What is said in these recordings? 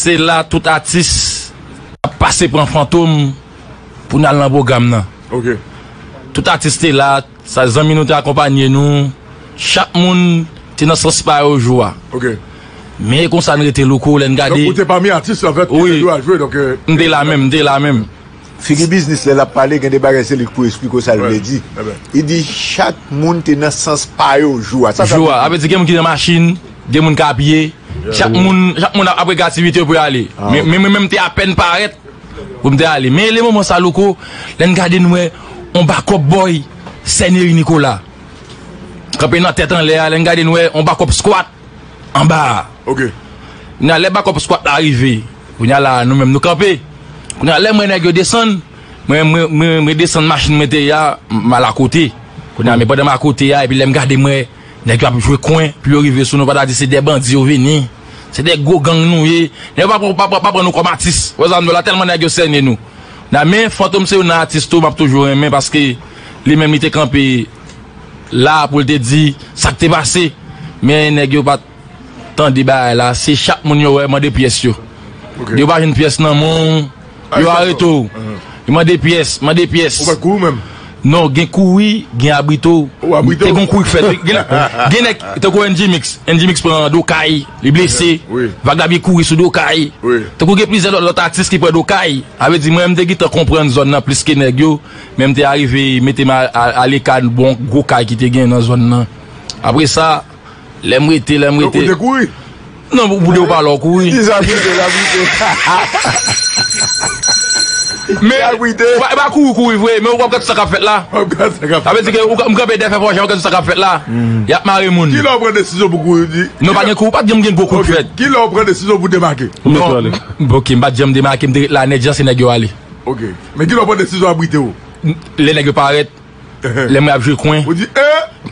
Se la tout atis ap pase pran fantom pou n al nan pwogram nan. Tout atis te la, sa zanmi nou te akonpanye nou, chak moun te nan sans pa yo jou a. Men e konsa n rete louko lè n gade. Donk ou te pami atis la vèt ki te dwe al jwe donk. M te la menm, m te la menm. Figi biznis lè lap pale gen de bagay se li k pou esplike w sa l vle di li di chak moun te nan sans pa yo jou a sa sa vle di gen moun ki nan machin gen moun k a pye chak moun chak moun ap rega aktivite yo pou yo ale men mwen menm m te apèn parèt pou m te ale men le moman sa louko lè n gade n wè on bakòp bòy sèneri nikola kanpe nan tèt anlè a lè n gade n wè on bakòp skwat. anba a ok kounye a lè bakòp skwat la rive kounye a la a nou menm nou kanpe kounye a lè m wè nèg yo desann mwen mwen mwen desann machin mwen te ye a m al akote kounye a men pandan m akote a epi lè m gade m wè nèg yo ap jwe kwen pou yo rive sou nou pa ta di se de bandi yo vini se de gwo gang nou ye nèg yo pa pran pa pran pa pran nou kòm atis ou wè sa m di w la tèlman nèg yo sène nou men Fantom se youn nan atis tou m ap toujou renmen paske li menm li te kanpe la pou l te di sa k te pase men nèg yo pa t tande bagay la se chak moun yo wè mande pyès yo yo pa jwenn pyès nan men w yo arete w yo mande pyès mande pyès non gen kouri gen abrite w te gen yon kouri k fèt wi gen nèg tankou NG mix NG mix pran do kay li blese vagabyen kouri sou do kay tankou gen plizyè lòt atis ki pran do kay sa vle di mwen menm m te gentan konprann zòn nan plis ke nèg yo. Menm te arive mete m aleka bon gwo kay ki te gen nan zòn nan. Apre sa, lè m rete, lè m rete. Ou te kouri? Non, pou de ou pale ou kouri. Ki sa brite, sa brite. Men, e pa kouri kouri vre, men ou pa gad sa k ap fèt la. Ou pa gad sa k ap fèt la. Sa vle di ke ou kanpe dèyè fè fò jan, ou gad sa k ap fèt la. Y ap mare moun. Ki lè ou pran desizyon pou kouri? Non, pa gen kouri, pa t janm gen gwo kout fèt. Ki lè ou pran desizyon pou demake? Bon, ok, m pa t janm demake, m te ret la nèt jan se nèg yo ale. Ok. Men kilè w pran desizyon abrite w? Lè nèg yo parèt, lè mwen ap jwe kwen,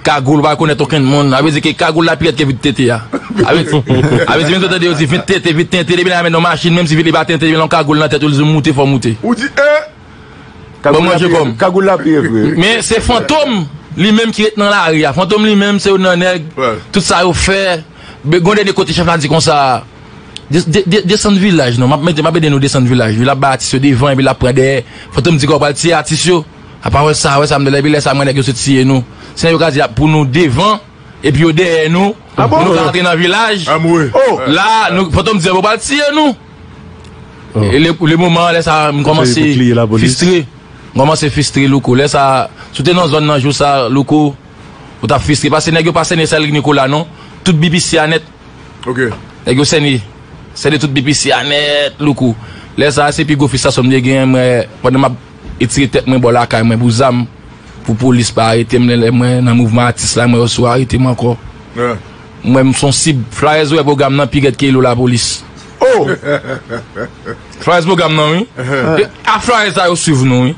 kagoul pa rekonèt okenn moun. Sa vle di ke kagoul la pi rèd ke vit tente a. Sa vle di menm si w tande yo di vit tente, vit tente, depi nan y a mennen w machin menm si vit li pa tente depi nan w gen yon kagoul nan tèt ou li di w moute fò w moute. Ou di e! Ban manje kò m. Kagoul la pi rèd vre wi. Men se fantom li menm ki ret nan lari a. Fantom li menm se yon nan nèg tout sa yo fè. Gen yon dènye kote chèf la di konsa. Desann vilaj non map mete map ede nou desann vilaj wi lap bay atis yo devan epi lap pran dèyè fantom di ke wap pral tiye atis yo apa wè sa wè sa mnle epi lè sa mwen nèg yo se tiye nou se yo ka di ap pou nou devan epi yo dèyè nou pou nou ka antre nan vilaj la fantom di yo pral tiye nou le moman lè sa m kòmanse fistre m kòmanse fistre louko lè sa si w te nan zòn nan jou sa louko ou tap fistre paske nèg yo pa sène sèl nikola non tout bbc a nèt. ok. Nèg yo sène sène tout BPC a nèt louko lè sa se pi gwo fistrasyon m te genyen mwen pandan map etire tèt mwen bò lakay mwen pou zam pou polis pa arete m lè mwen nan mouvman atis la mwen yo sou arete m ankò m wè m son sib flayèz wè pwogram nan pi rèd ke ilo lapolis oh flayèz pwogram nan wi a flayèz sa yo swiv nou wi.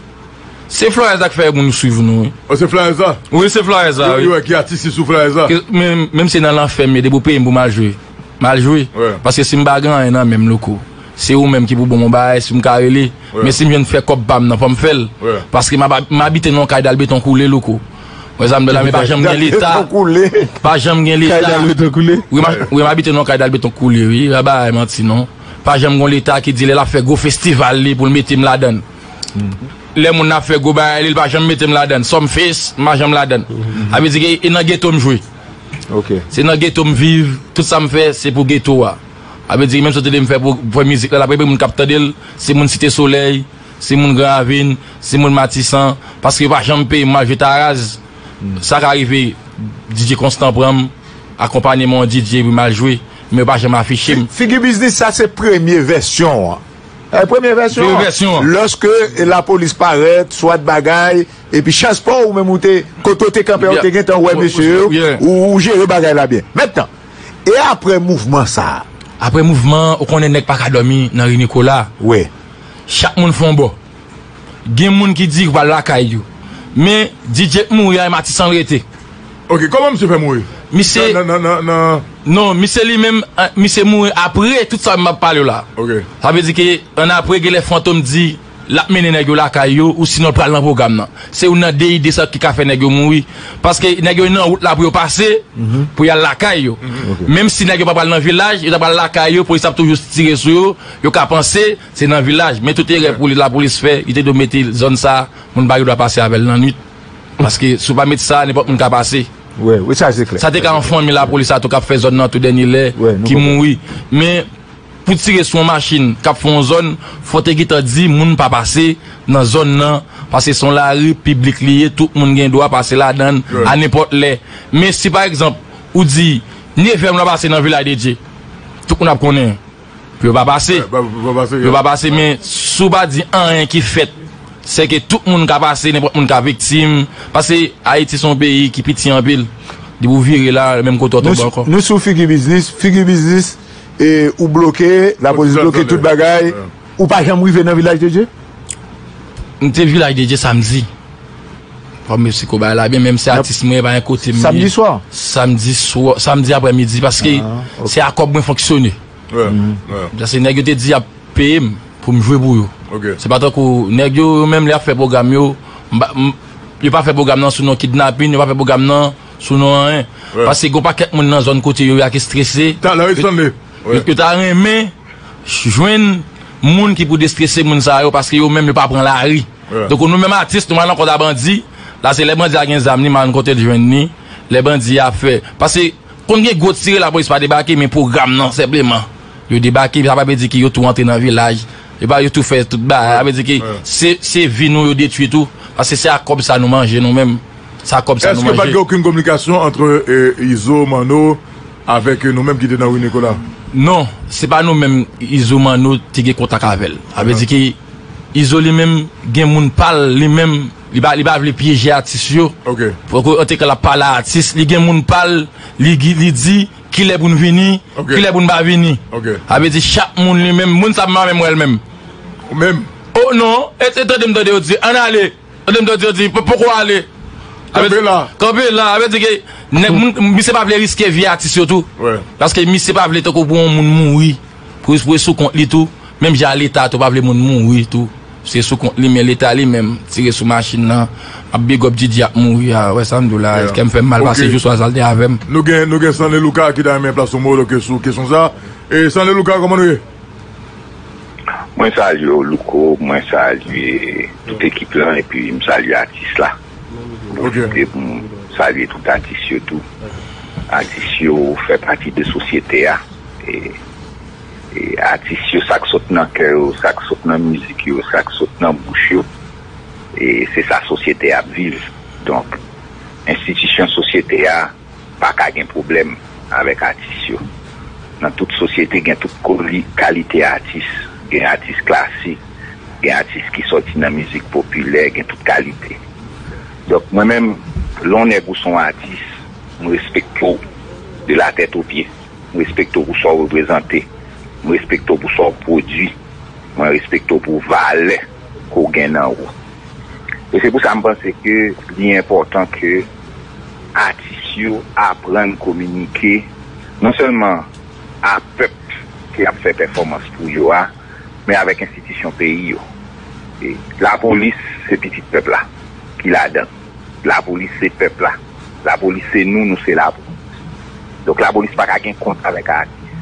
Se flyers la ki fè moun swiv nou wi. Oh se flyers la? Wi se flyers la wi. Yo wè ki atis ki sou flyers la. Menm si se nan lanfè m ye depi ou peye m pou m al jwe m al jwe paske si m pa gen anyen nan men m louko se ou menm ki pou ban m yon bagay si m ka rele men si m jwenn fè kòb pa m nan fò m fè l paske m ap abite nan yon kay dal beton koule louko wè sa m di w la men pa janm gen leta pa janm gen leta kay dal beton koule wi m abite nan yon kay dal beton koule wi pa bay manti non pa janm gen yon leta ki di lè l ap fè gwo festival li pou l mete m ladan l. Lè moun nan ap fè gwo bagay li, li pa janm mete m ladan l. Some face, m pa janm ladan l. Sa vle di ke e nan geto m jwe. Se nan geto m viv, tout sa m fè se pou geto a. Sa vle di menm sòt li m fè pou fè mizik la, l ap rive moun k ap tande l, se moun Site Solèy, se moun Gran Ravin, se moun Matisan. Paske yo pa janm peye m, m al jwe Taraz. Sa ka rive DJ Constant pran m, akonpanye m yon DJ epi m al jwe, men yo pa janm afiche m. Figi Biznis sa se premye vèsyon an. Premye vèsyon an, lòske lapolis parèt, swat bagay, epi chans pa w ou menm ou te, kote ou te kanpe a ou te gentan wè mesye yo, ou jere bagay la byen. Mentnan, e apre mouvman sa a? Apre mouvman an, ou konnen nèg pa ka dòmi nan ri Nikola. Chak moun fè yon bò. Gen moun ki di yo pral lakay yo. Men DJ t mouri ay matisan rete. Ok koman misye fè mouri nan. Non misye li menm misye mouri apre tout sa map palew la sa vle di ke an apre genlè fantom di lap mennen nèg yo lakay yo ou sinon l pral nan pwogram nan se youn nan 2 ide sa ki ka fè nèg yo mouri paske nèg yo nan wout la pou yo pase pou yal lakay yo menm si nèg yo pa pral nan vilaj yo ta pral lakay yo polis ap toujou tire sou yo yo ka panse Se nan vilaj, men tout erè pou li lapolis fè, li te dwe mete zòn sa a, moun pa gen dwa pase avè l nannuit. Paske si w pa met sa a, nenpòt moun ka pase. Sa te ka yon fanmi lapolis la tou k ap fè zòn nan tou dènye lè, ki mouri. Men, pou tire sou yon machin k ap fè yon zòn, fò w te gentan di moun pa pase nan zòn nan, paske se yon lari piblik li ye, tout moun gen dwa pase ladan l a nenpòt lè. Men si pa egzanp, ou di, Nevè moun ap pase nan Viladedye, tout moun ap konnen. Pou yo pa pase. Pou yo pa pase. Pou yo pa pase men si w pa di anyen ki fèt se ke tout moun ka pase, nenpòt moun ka viktim. Pase Ayiti se yon peyi ki piti anpil. Depi w vire la menm kote w tonbe ankò. Nou sou figi biznis. Figi biznis e ou bloke. Lapolis bloke tout bagay. Ou pa janm rive nan Vilaj de Dye? M te Vilaj de Dye samdi. Waww mesye ko bagay la byen menm si atis mwen epa gen kotem ye samdi swa samdi aprè midi paske se a kòb mwen fonksyone paske nèg yo te di yap peyem poum jwe pou yo se pa tankou nèg yo yo menm lè yap fè pwogram yo yo pa fè pwogram nan sou non kidnapin yo pa fè pwogram nan sou non anyen paske gon pakèt moun nan zòn kote yo ya ki strese yo ta renmen jwenn moun ki pou destrese moun sa yo paske yo menm yo pa pran lari. Tankou nou menm atis nou al nan kont a bandi la se lè bandi a gen zam li malen kotel jwenn li lè bandi a fè pase konn gen gwo tire lapolis pa debake men pwogram nan senpleman yo debake sa pa vle di ke yo tou antre nan vilaj yo pa yo tou fè tout bagay sa vle di ke se se vi nou yo detwi tou pase se ak kòb sa nou manje nou menm se ak kòb sa nou manje. Eske pat gen okenn kominikasyon antre Izo, Manno avèk nou menm ki te nan Ri Nikola? Non se pa nou menm Izo, Manno te gen kontak avèl sa vle di ke. Izo li menm gen moun pal li menm li pa li pa vle pyeje atis yo ok ok an teka lap pale a atis li gen moun pal li gi li di kilè poun vini ok kilè poun pa vini ok sa vle di chak moun li menm moun sa mpa menm wèl menm ou menm oh non et et tandem tande yo di ann ale tandem tande yo di p poko ale kanpe la kanpe la sa vle di ke nèg moun misye pa vle riske vi atis yo tou wè paske misye pa vle tankou pou yon moun mouri. Kriz pou e sou kont li tou, menm jan a leta tou pa vle moun mouri tou, se sou kont li men leta li menm tire sou machin nan, map big up Didi ap mouri a, wè sam diw la, kèm fèm mal pase jou swa sa l te avèm. Nou gen nou gen Stanley Luca ki ta renmen plas yon mo ke sou kesyon sa e Stanley Luca kòman nou ye? Mwen salye w Louko, mwen salye tout ekip lan epi m salye atis la. Pwofite pou m salye tout atis yo tou. Atis yo fè pati de sosyete a. E atis yo sa k sot nan kè yo, sa k sot nan mizik yo, sa k sot nan bouch yo e se sa sosyete a ap viv. Donk enstitisyon sosyete a. Paka gen pwoblèm avèk atis yo. Nan tout sosyete gen tout kalite atis. Gen atis klasik, gen atis ki sòti nan mizik popilè, gen tout kalite. Donk mwen menm, lè yon nèg ou se yon atis, m respekte w de la tèt o pye. M respekte w pou sa w reprezante. M respekte w pou sa w pwodui. Mwen respekte w pou valè ke w gen nan ou. E se pou sa m panse ke li enpòtan ke. atis yo aprann kominike non sèlman a pèp ke ap fè pèfòmans pou yo a, men avèk enstitisyon peyi yo. Lapolis se pitit pèp la ki ladan, lapolis se pèp la, lapolis se nou, nou se lapolis. Donk lapolis pa ka gen kont avèk atis.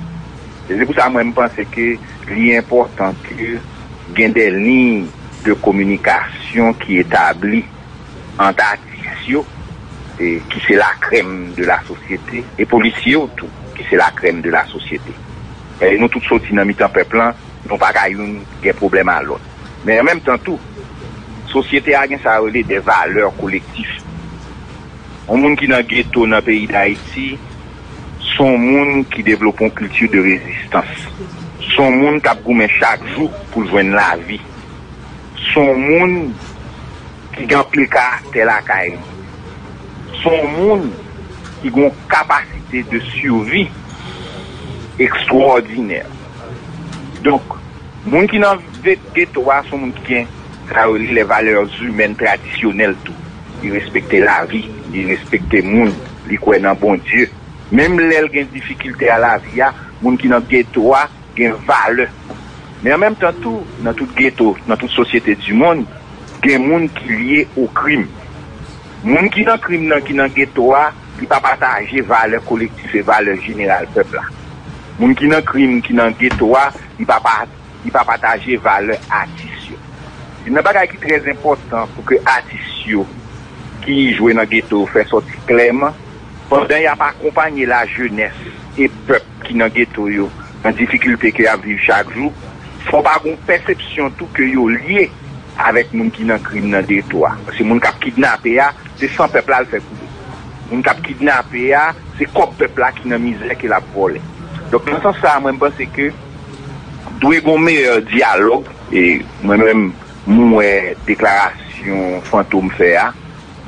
E se pou sa mwen m panse ke li enpòtan ke gen de liy de kominikasyon ki etabli. ant atis yo ki se la krèm de la sosyete e polisye yo tou ki se la krèm de la sosyete. E nou tout soti nan mitan pèp lan, nou pa ka youn gen pwoblèm a lòt. Men an menm tan tou, sosyete a gen sa yo rele de valè kolektif. Yon moun ki nan geto nan peyi Dayiti, se yon moun ki devlope yon kilti de rezistans. Se yon moun k ap goumen chak jou pou l jwenn lavi. Son moun ki gen anpil karaktè lakay li. Son moun ki gon kapasite de survi ekstwòdinè. Donk, moun ki nan geto a son moun ki gen sa yo rele les valeurs humaines traditionnelles tou. Li respekte lavi, li respekte moun, li kwè nan Bondye. Menm lè l gen difikilte a lavi a, moun ki nan geto a. gen valè. Men an menm tan tou, nan tout geto, nan tout sosyete dimonn, gen moun ki lye o krim. Moun ki nan krim nan, ki nan geto a, li pa pataje valè kolektif e valè jeneral pèp la. Moun ki nan krim, ki nan geto a, li pa pa, li pa pataje valè atis yo. Youn nan bagay ki trè enpòtan pou ke atis yo ki jwe nan geto yo fè sòti klèman, pandan y ap akonpanye lajenès e pèp, ki nan geto yo, nan difikilte ke y ap viv chak jou, fò pa gon pèsepsyon tou ke yo lye avèk moun ki nan krim nan geto a. Paske moun k ap kidnape a, se san pèp la l fè koule. Moun k ap kidnape a, se kòb pèp la ki nan mizè ke l ap vòlè. Donk nan sans sa a mwen m panse ke dwe gon meyè dyalòg e mwen menm m wè deklarasyon Fantom fè a,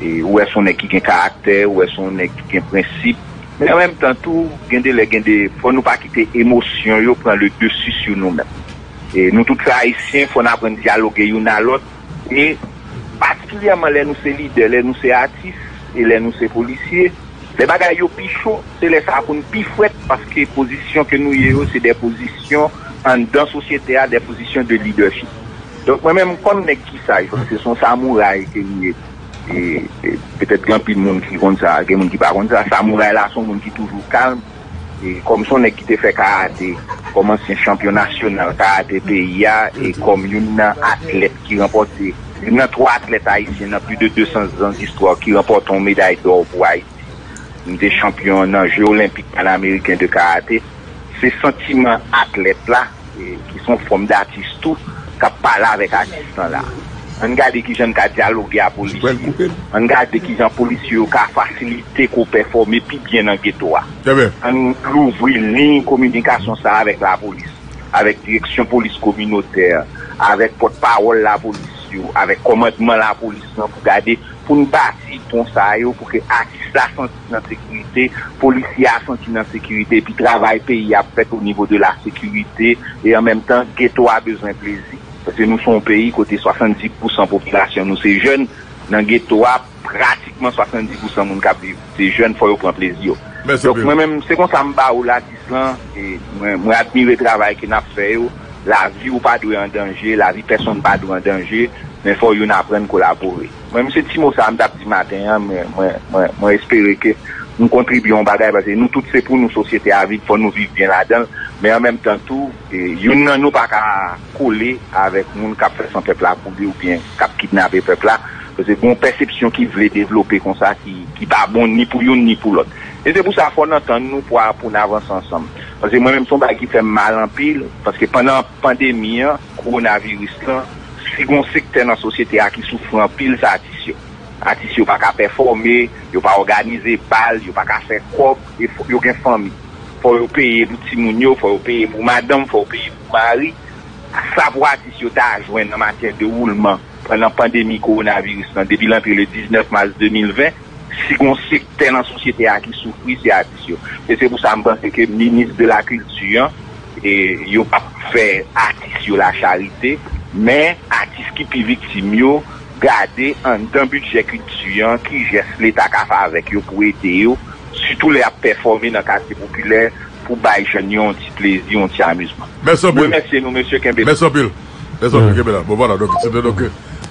Ou wè se yon nèg ki gen karaktè, ou wè se yon nèg ki gen prensip. Men an menm tan tou, gen de lè gen de, fò nou pa kite emosyon yo pran le dessus sou nou menm. Nou tout se Ayisyen, fò n aprann dyaloge youn a lòt. E patikilyèman lè nou se lidè, lè nou se atis e lè nou se polisye, lè bagay yo pi cho, se lè sa a pou n pi frèt paske pozisyon ke nou ye yo se de pozisyon anndan sosyete a, de pozisyon de lidèchip. Donk mwen menm m konn nèg ki saj paske son samouray ke li ye petèt gen anpil moun ki konn sa gen moun ki pa konn sa samouray la son moun ki toujou kalm kòm son nèg ki te fè karate kòm ansyen chanpyon nasyonal karate peyi a e kòm youn nan atlèt ki ranpòte youn nan 3 atlèt ayisyen nan pli de 200 zan zistwa ki ranpòte yon meday dò pou ayiti m te chanpyon nan je olenpik panameriken de karate. Se santiman atlèt la, ki son fòm d'atis tou, k'ap pale avèk atis lan la. Ann gade kijan n ka dyaloge a polisye. Ann gade kijan polisye yo ka fasilite k'ou pèfòme pi byen nan geto a. Ann louvri liy kominikasyon sa avèk lapolis, avèk direksyon polis kominotè, avèk pòt pawòl lapolis yo, avèk kòmandman lapolis lan pou gade, pou n bati pon sa yo pou ke atis la santi. nan sekirite, polisye a santi nan sekirite epi travay peyi ap fèt o nivo de la sekirite e an menm tan geto a bezwen plezi paske nou son peyi kote 70 pousan popilasyon nou se jèn nan geto a pratikman 70 pousan moun kap viv se jèn fò yo pran plezi yo donk mwen menm se konsa m ba ou latis lan e mwen mwen admire travay ke nap fè yo lavi ou pa dwe an danje lavi pèsonn pa dwe an danje men fò youn aprann kolabore. Mwen m se ti mo sa m tap di maten an mwen espere ke m kontribye yon bagay paske nou tout se pou nou sosyete a vin fò nou viv byen ladanl men an menm tan tou youn nan nou paka kole avèk moun kap fè san pèp la pou li oubyen kap kidnape pèp la paske gon pèsepsyon ki vle devlope konsa ki pa bon ni pou youn ni pou lòt e se pou sa fò n antann nou pou n avanse ansanm paske mwen menm son bagay ki fèm mal anpil paske pandan Pandemi an, kowonaviris lan, si gon sektè nan sosyete a ki soufri anpil se atis yo. Atis yo pa ka pèfòme, yo pa òganize bal, yo pa ka fè kòb e yo gen fanmi. Fò yo peye pou timoun yo, fò yo peye pou madanm, fò yo peye pou mari. Sa pou atis yo ta jwenn an matyè de woulman pandan pandemi kowonaviris lan depi l antre le 19 mas 2020, Si gon sektè nan sosyete a ki soufri se atis yo. E se pou sa m panse ke minis de la kilti an yo pap fè atis yo la charite men atis ki pi viktim yo gade anndan bidjè kilti an ki jès leta ka fè avèk yo pou ede yo sitou lè yap pèfòme nan katye popilè pou bay jèn yo yon ti plezi yon ti amizman. Mèsi anpil. Mwen remèsye nou mesye kenbe la. Mèsi anpil. Lè sa, kenbe la. Bon, vwala, donk, se te donk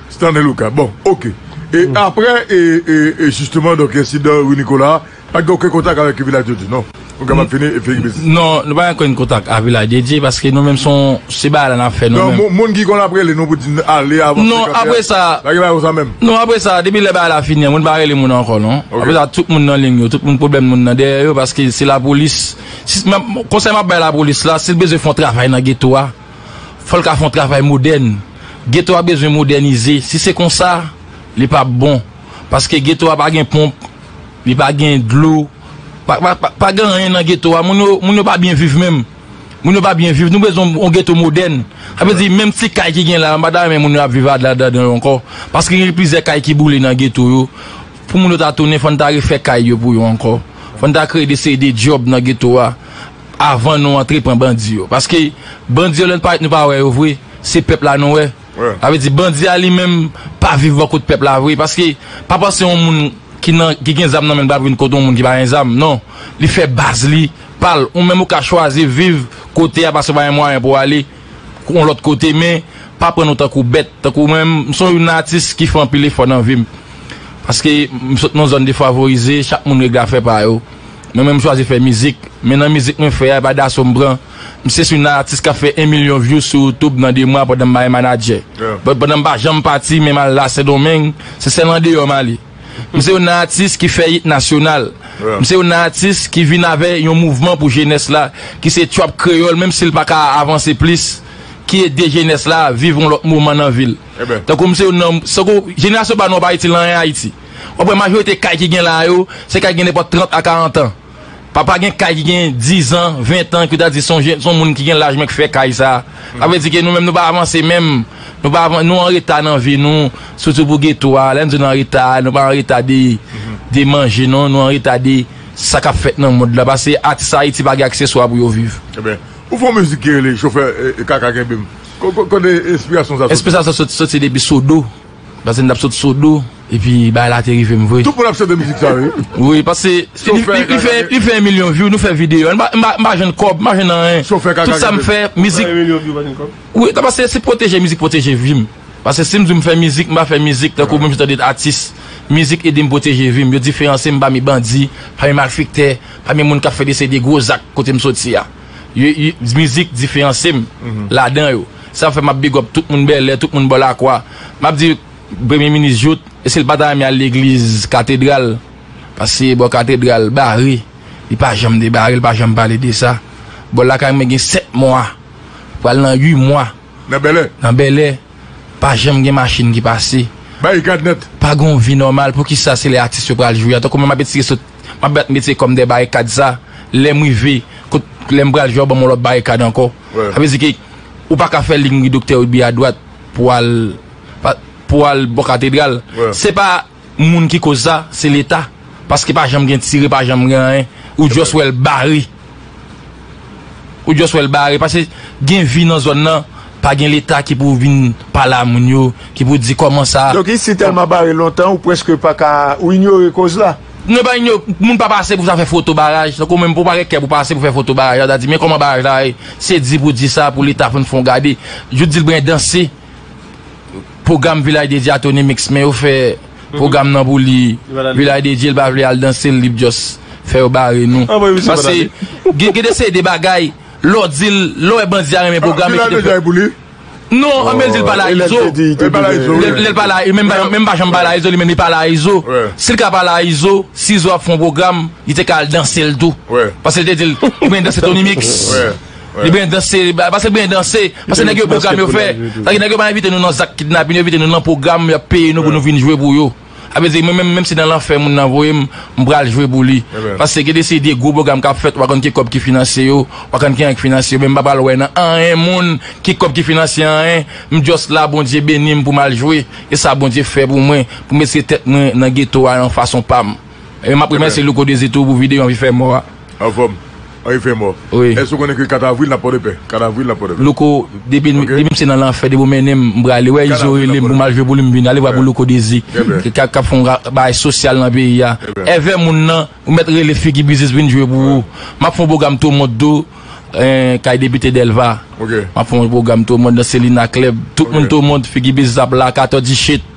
Stanley Lucas. Bon, oke. E apre, e, e, e jisteman, donk, ensidan Rue Nicolas a, pa t gen okenn kontak avèk Vilaj de Dye, non? Ou kapab fini e fini biznis. Non, nou pa gen okenn kontak ak Vilaj de Dye, paske nou menm se yon, se bagay la n ap fè nou menm. Non, moun ki konn ap rele nou pou di n ale, avanse, kanpe a. Non, apre sa. Pa gen bagay konsa menm? Non, apre sa, depi lè bagay la fini an, moun pa rele moun ankò, non. Oke. Apre sa, tout moun nan ling yo, tout moun pwoblèm moun nan dèyè yo, paske se lapolis, si, m ap, konsèy m ap bay lapolis la, si l bezwen fè yon travay nan geto a. fò l ka fè yon travay modèn. Geto a bezwen modènize. Si se kon sa, li p ap bon. Paske geto a pa gen ponp, li pa gen dlo. Pa gen anyen nan geto a. Moun yo pa byen viv menm. Moun yo pa byen viv. Nou bezwen yon geto modèn. Sa vle di menm ti kay ki gen la a, m pa ta renmen moun yo ap viv ladan yo ankò. Paske gen plizyè kay ki boule nan geto yo. Pou moun yo ta tounen, fò n ta refè kay yo pou yo ankò. Fò n ta kreye de seri de djòb nan geto a. Avan nou antre pran bandi yo. Paske bandi yo lè nou parèt nou pa wè yo vre. Se pèp la nou wè. Sa vle di bandi a li menm pa viv bò kot pèp la vre. Paske pa panse yon moun ki nan ki gen zam nan men l pral vin kot yon moun ki pa gen zam. Non. Li fè baz li pa l. Ou menm ou ka chwazi viv kote a paske ou pa gen mwayen pou w ale. yon lòt kote men pa pran nou tankou bèt tankou mwen menm m son youn nan atis ki fè anpil efò nan vim paske m sot nan zòn defavorize chak moun règle afè pa yo mwen menm m chwazi fè mizik men nan mizik mwen fè a epa daso m pran m se youn nan atis kap fè 1 milyon views sou youtube nan 2 mwa pandan m pa gen manadjè pandan m pa janm pati menm al la sendonmeng se sèl andeyò m ale. M se youn nan atis ki fè it nasyonal. M se youn nan atis ki vin avè yon mouvman pou jenès la ki se Trap Kreyòl menm si l pa ka avanse plis ki ede jenès la viv yon lòt moman nan vi l. Tankou m se youn nan tankou jenerasyon pa nou an pa itil anyen Ayiti. W ap wè majorite kay ki gen la a yo se kay ki gen nenpòt 30 a 40 an. Papa gen kay ki gen 10 ans, 20 ans, ke w ta di son jèn, son moun ki gen laj mwen ki fè kay sa. Sa vle di ke nou menm nou pa avanse menm. Nou pa avan, nou an reta nan vi nou, sitou pou geto a. Lè n di nou an reta, nou pa an reta de de manje non, nou an reta de sa k ap fèt nan mond la. Pase atis Ayiti pa gen akseswa pou yo viv. Eben, ou fè yon mizik ki rele chofè kaka kenbe m. Kote enspirasyon sa soti? Enspirasyon sa soti depi Sodo. Pase m tap sot sodo epi bagay la te rive m vre. Tout moun ap chante mizik sa wi. Wi pase li fè 1 milyon vyou nou fè videyo a m pa jwenn kòb m pa jwenn anyen tout sa m fè mizik wi ta pase se pwoteje mizik pwoteje vi m pase si m di w m fè mizik m pa fè mizik tankou menm jan w tande atis mizik ede m pwoteje vi m yo diferanse m pami bandi pami malfektè pami moun k ap fè de seri de gwo zak kote m soti a. Mizik diferansyem ladan yo. Sa fè map big up tout moun Bèlè, tout moun bò Lakwa. Map di Premye Minis Jout, eske li pa ta renmen al legliz Katedral? Pase bò Katedral bare. Li pa janm debare, li pa janm pale de sa. Bò lakay mwen gen 7 mwa, pral nan 8 mwa. Nan Bèlè? Nan Bèlè. Pa janm gen machin ki pase. Barikad nèt. Pa gen yon vi nòmal. Poukisa se lè atis yo pral jwe a? Tankou mwen map etire sou. Map bat metye kòm dè barikad sa lèm rive kot lèm pral jwe yo banm yon lòt barikad ankò sa vle di ke ou paka fè ling ri doktè Rudy a dwat pou al pou al bò katedral se pa moun ki koz sa se leta paske pa janm gen tire pa janm gen anyen ou just wèl bare. Ou just wèl bare paske gen vi nan zòn nan pa gen leta ki pou vin pale a moun yo ki pou di kòman sa. Donk isi tèlman bare lontan ou preske pa ka ou inyore koz la. Non e pa inyo moun pa pase pou sa fè foto baraj tankou menm pou pa gen kè pou pase pou fè foto baraj la ta di men kòman baraj la ye se di pou di sa pou leta fon fon gade jout di l bren danse. Pwogram vilaj dedye a Tony mix men yo fè pwogram nan pou li vilaj dedye li pa vle al danse l li p just fè yo bare nou paske gen de seri de bagay lè w di l lè w wè bandi a renmen pwogram li kite fè non anmèl di l pale a izo lè l pale a izo menm m pa janm pale a izo li menm li pale a izo si l ka pale a izo si izo ap fè yon pwogram li te ka al danse l tou paske l te di l ou gen danse Tony mix. Li byen danse li bay, pase byen danse, pase nèg yo pwogram yo fè, sa di nèg yo pa envite nou nan zak kidnapin, yo envite nou nan pwogram yap peye nou pou nou vin jwe pou yo. Sa vle di mwen menm, menm si nan lanfè moun nan voye m, m pral jwe pou li. Pase gen de seri de gwo pwogram kap fèt, ou pa konn ki kòb ki finansye yo, ou pa konn kijan ki finansye yo, men m pa pral wè nan anyen moun ki kòb ki finansye anyen, m just la Bondye beni m pou m al jwe, e sa Bondye fè pou mwen, pou m retire tèt mwen nan geto a yon fason pa m. E map remèsye Louko Désir tou pou video anvi fè mò a. Anfòm. Anvi fè mò. Wi. Èske ou konnen ke 4 avril nap Pòdepè? 4 avril nap Pòdepè. Louko, depi m, depi m se nan lanfè, depi ou mennen m, m prale. Wè Izo rele m pou m al jwe pou li m vini. Ale vwa pou Louko Désir. Trè byen. Ki kap fè yon bagay sosyal nan peyi a. Trè byen. Èvè moun nan, ou mèt rele figi biznis vin jwe pou ou. Map fè yon pwogram tou mond tou, kay depite Delva. Ok. Map fè yon pwogram tou mond nan Selina Club. Tout moun tou mond, figi biznis ap la, Kato di shit.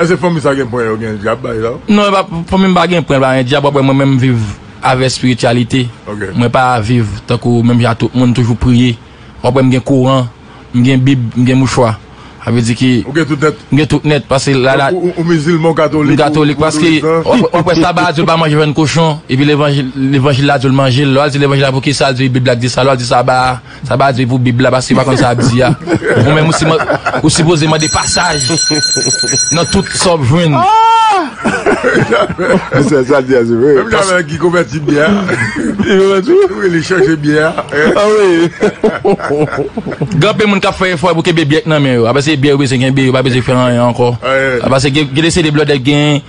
Eske fanmi sa gen pwen yo gen dyab bay la. Non epa fanmim pa gen pwen pa gen dyab wap wè mwen menm viv avè spirityalite mwen pa viv tankou menm jan a tout moun toujou priye wap wèm gen koran m gen bib m gen mouchwa sa vle di ke m gen tout nèt paske la la ou mizilman ou katolik m katolik paske wap wè saba a diw pa manje vyann kochon epi levanjil la diw manje l lè wal di levanjil la poukisa l di bib la k di sa lè wal di saba a. Sa pa di pou bib la paske pa konn sa ap di a ou menm ou sipoze mande pasaj nan tout sa wap jwenn. Menm jamè ki konvèti byè wi li chanje byè gen anpil moun kap fè efò pou kenbe byè k nan men yo aprè se byè yo bezwen kenbe yo pa bezwen fè anyen ankò aprè se gen de se de blòdè gen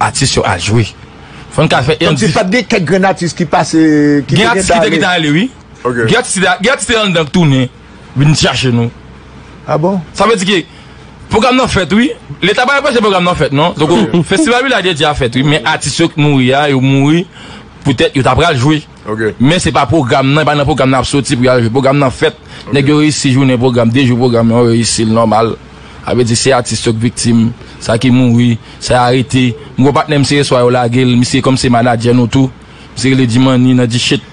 Atis yo al jwe. Fò n ka fè yon dif. Pat gen kèk grenn atis ki pase. Gen atis ki te gen ta ale wi. Gen atis ki te gen atis ki te anndan k tounen vin chache nou. A bon? Sa vle di ke pwogram nan fèt wi. Leta pa anpeche pwogram nan fèt non. Donk Festival Village Dédié a fèt wi men atis yo k mouri a yo mouri poutèt yo ta pral jwe. Men se pa pwogram nan, e pa nan pwogram nan y ap soti pou y al jwe. Pwogram nan fèt, nèg yo reyisi jounen pwogram, de jou pwogram yo reyisi l nòmal. Sa vle di se atis yo k viktim, sa ki mouri, sa y arete. M gen yon patnè m se yeswa yo lage l, misye kòm se manadjè nou tou, misye rele Djimani nan Djichit.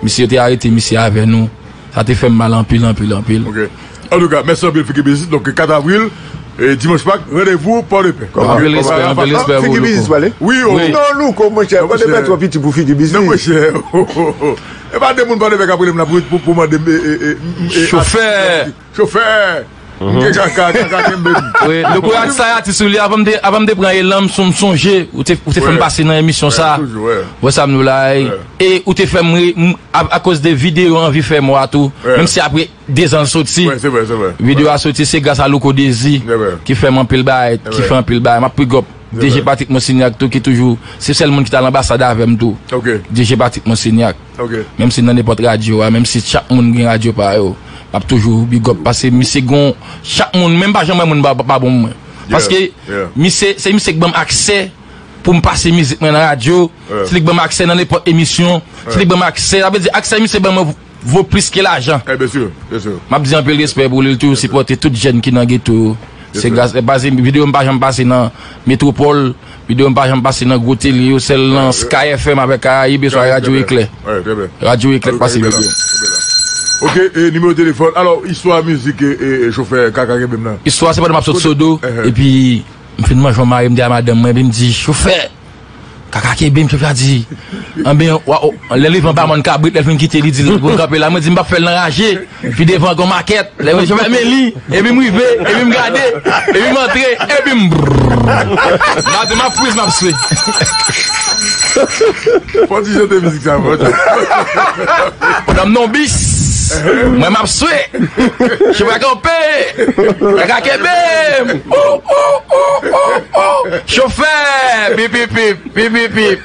Misye yo te arete misye avè nou. Sa te fèm mal anpil anpil anpil. Ok antouka mèsi anpil Fiki Biznis donk 4 avril dimanch pak randevou pòdepè ok anpil respè anpil respè pou louko wi non louko mwen chè pòdepè twò piti pou Fiki Biznis nan mwen chè oo epa de moun pòdepè kap relem la pou mandem chofè chofè. Mnje kaka kaka kenbem. Wi Deborah sa a ti sou li avanm te avanm te pran elan m son m sonje ou te ou te fèm pase nan emisyon sa wè sa m diw la e ou te fèm ri m akoz de video anvi fè mò a tou menm si apre 2 zan l soti video a soti se gras a Louko Dezi ki fèm anpil bagay ki fè anpil bagay map bigòp DG Patrick Monsignac tou ki toujou se sèl moun ki t al anbasad avèm tou DG Patrick Monsignac. Menm si nan nenpòt radyo a, menm si chak moun gen radyo pa yo, map toujou bigòp pase misye gon chak moun menm pa janm wè moun pa bon mwen. Paske misye se misye k banm aksè poum pase mizik mwen nan radyo, se li k banm aksè nan nenpòt emisyon, se li k banm aksè, sa vle di aksè misye ban mwen vo plis ke lajan. Map di anpil respè pou li l toujou sipòte tout jèn ki nan geto yo. Se gras li paske videyo m pa janm pase nan metropòl. Video m pa janm pase nan gwo tele yo sèl nan sky FM avèk karayib eswa radyo eklè radyo eklè k pase video m. Ok e nimewo telefòn alò istwa mizik e chofè kaka kenbe m nan. Istwa se pandan map sot sodo epi m fin manje m mare m di a madanm mwen epi m di chofè kaka kenbe m chofè a di anben lè li rive anba mòn kabrit lè l fin kite li di l vin kanpe la mwen di m pap fè l nan raje. Pi devan gon makèt, lè mwen fèmen li, epi m rive, epi m gade, epi m antre, epi m brrrr. Maten m ap friz m ap swe. Fò ti chante mizik sa fò ti chante. Pandan m nan yon bis, mwen m ap swe. Chofè a kanpe, li ka kenbe m. Ooh ooh ooh ooh ooh. Chofè! Pipipip, pipipip.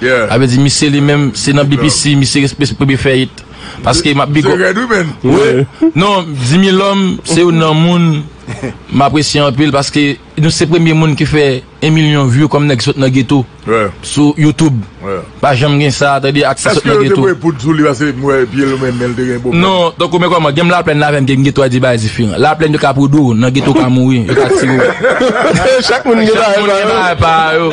Sa vle di misye li menm se nan BPC misye respes premye fè it paske map big up wi non Dimilòm se youn nan moun m apresye anpil paske nou se premye moun ki fè 1 milyon view kòm nèg ki sot nan geto sou youtube pa janm gen sa tande atis ki sot nan geto non tankou men kòman gen m laplèn avèm gen geto a 2 bagay diferan laplèn yo ka pwoudew nan geto ou ka mouri yo ka tirew chak moun gen bagay pa yo.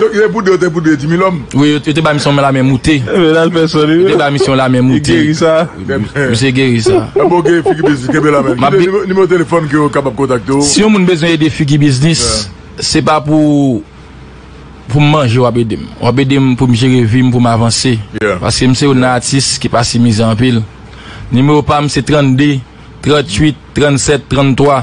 Donk yo te pou 2 yo te pou 2 di milòm. Wi yo te bay misye yon lame moute. Yo te bay misye yon lame moute. Li geri sa. Misye geri sa. Anben ok figi biznis kenbe la menm. Kite nimewo telefòn ke yo kapab kontakte w. Si yon moun bezwen ede figi biznis se pa pou pou m manje w ap ede m. W ap ede m pou m jere vi m pou m avanse. Paske m se yon nan atis ki pa si mize anpil. Nimewo pa m se 32 38 37 33.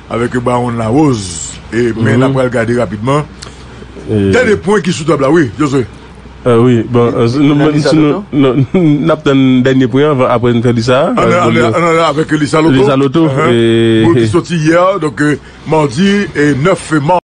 Avèk Baron Larose men n ap pral gade rapidman dènye pwen ki sou tab la wi Josue. Wi bon n ap tann dènye pwen an aprè n fè lisa a. An ale avèk lisa loto ki soti yè donk mardi 9 mas.